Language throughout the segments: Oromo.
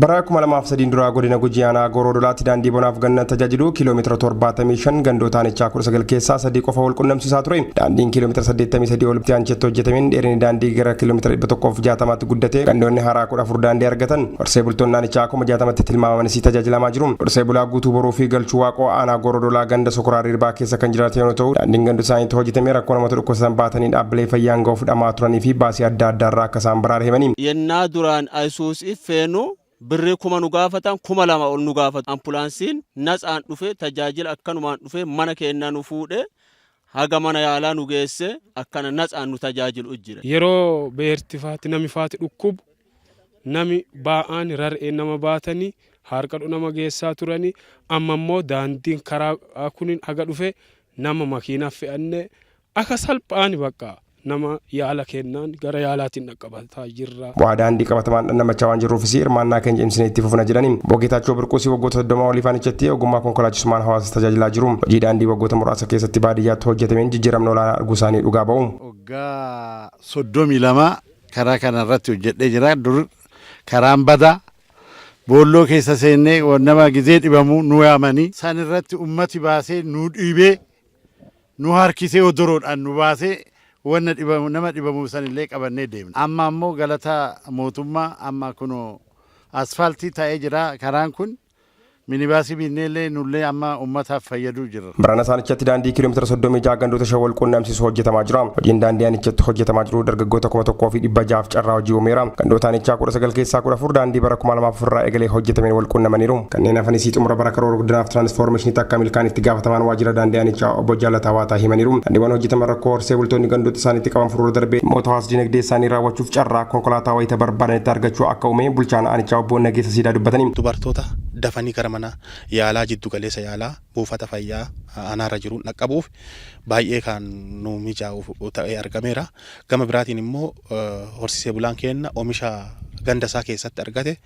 Bara 2003 duraa godina Gujii aanaa Gooroo Dolaatti daandii bonaaf ganna tajaajilu kiiloomeetira 75 gandoota aanichaa 19 keessaa sadii qofa wal qunnamsiisaa ture. Daandiin kiiloomeetira 83 ol aanchetti hojjetameen dheerinni daandii gara kiiloomeetira 160tti guddate gandoonni haaraa 14 daandii argatan. Horsee bultoonni aanichaa 60tti tilmaamaman isii tajaajilamaa jiru. Horsee bulaa guutuu boruu fi galchuu waaqoo aanaa Gooroo Dolaa ganda Sokoraa Rirbaa keessa kan jiraatan yoo ta'u daandiin ganda isaaniitti hojjetamee rakkoo namoota dhukkubsatan baatanii dhaabbilee fayyaan ga'uuf dhamaa turanii fi baasii adda addaa irraa akka isaan baraare himanii. Yennaa duraan Ayisuusii feenu birrii kuma nu gaafatan kuma lama ol nu gaafatu. Ampulaansiin natsaan dhufee tajaajila akkanumaan dhufee mana keennaa nu fuudhee haga mana yaalaa nu geessee akkana natsaan nu tajaajilu jira. Yeroo beerti faatti nami faatti dhukkubu Nami baa'aan rar'een nama baatani haarqadhu nama geessaa turani amma immoo daandiin karaa kunin haga dhufe nama makiina fe'anne aka salphaani baqqa nama yaala keennaan gara yaalaatiin dhaqqabataa jirra. Bu'aa daandii qabatamaan dhandhamachaa waan jirruufisi hirmaannaa keenya cimsinee itti fufna jedhani. Obbo Geetaachoo Birquusi waggoota 30 oliif aanichatti ogummaa konkolaachisummaan hawaasa tajaajilaa jiru. Hojii daandii waggoota muraasa keessatti baadiyyaatti hojjetameen jijjiiramna olaanaa arguusaanii dhugaa ba'u. Waggaa 32 Karaa kana irratti hojjedhee jira. Dur karaan badaa boolloo keessa seennee nama gizee dhibamu nu yaamanii san irratti ummati baasee nu dhiibee nu harkisee odoroodhaan nu baasee wanna dhibamu nama dhibamu san illee qabannee deemna. Amma ammoo galata mootummaa amma kunoo asfaaltii ta'ee jira karaan kun. Minibaasii biinneellee nullee amma ummataaf fayyaduu jirra. Barana saanichatti daandii kiilomeetira 36 gandoota shan wal quunnamsiisu hojjetamaa jira. Hojiin daandii aanichatti hojjetamaa jiru dargaggoota 1600f carraa hojii uumeera. Gandoota aanichaa 19 keessaa 14 daandii bara 2004 irraa eegalee hojjetameen wal quunnamaniiru. Kanneen hafanisii xumura bara karoora guddinaaf tiraanisfoormeeshiniitti akka milkaa'an itti gaafatamaan waajjira daandii aanichaa obbo Jaalataa Waataa himaniiru. Daandiiwwan hojjetaman rakkoo horsee bultoonni gandoota isaaniitti qaban furuurra darbee dhimmoota hawaas-diinagdee isaanii raawwachuuf carraa konkolaataa wayita barbaadanitti argachuu akka uumee bulchaan aanichaa obbo Nageessa Siidaa dubbatanii. Dubartoota dafanii gara mana yaalaa jiddu galeessa yaalaa buufata fayyaa aanaarra jiruun dhaqqabuuf baay'ee kan nuu mijaa'u ta'ee argameera. Gama biraatiin immoo horsiisee bulaan keenna omisha ganda isaa keessatti argate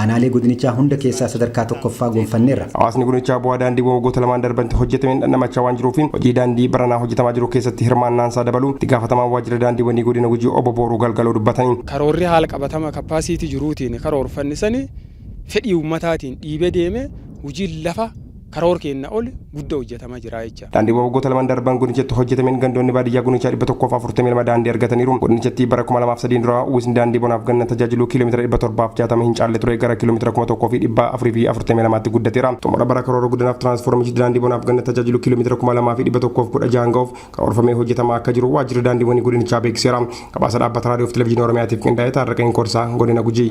Aanaalee godinichaa hunda keessaa sadarkaa 1ffaa gonfanneerra. Hawaasni godinichaa bu'aa daandiiwwan waggoota lamaan darbantti hojjetameen dhandhamachaa waan jiruufi hojii daandii baranaa hojjetamaa jiru keessatti hirmaannaansaa dabaluu itti gaafatamaan waajjira daandiiwwanii godina Gujii obbo Booruu Galgaloo dubbatani. Karoorri haala qabatama capacity jiruutiin karoorfanne sani fedhii ummataatiin dhiibee deemee hujiin lafa. karoor keenna oli gudda hojjatama jira jecha. Daandiiwwan waggoota lamaan darban godinichatti hojjatameen gandoonni baadiyyaa godinichaa 142 daandii argataniiru. Godinichattii bara 2003 dura uwwisni daandii bonaaf ganna tajaajilu kiilomeetira 760 hin caalle ture gara kiilomeetira 1442tti guddateera. Xumura bara karoora guddanaaf tiraansfoormichi daandii bonaaf ganna tajaajilu kiilomeetira 2116n gahuuf karoorfamee hojjetamaa akka jiru waajjirri daandiiwwanii godinichaa beeksiseera. Gabaasa dhaabbata raadiyoof televezyiinii Oromiyaatiif qindaa'e Taarraqeen Korsaa godina Gujii.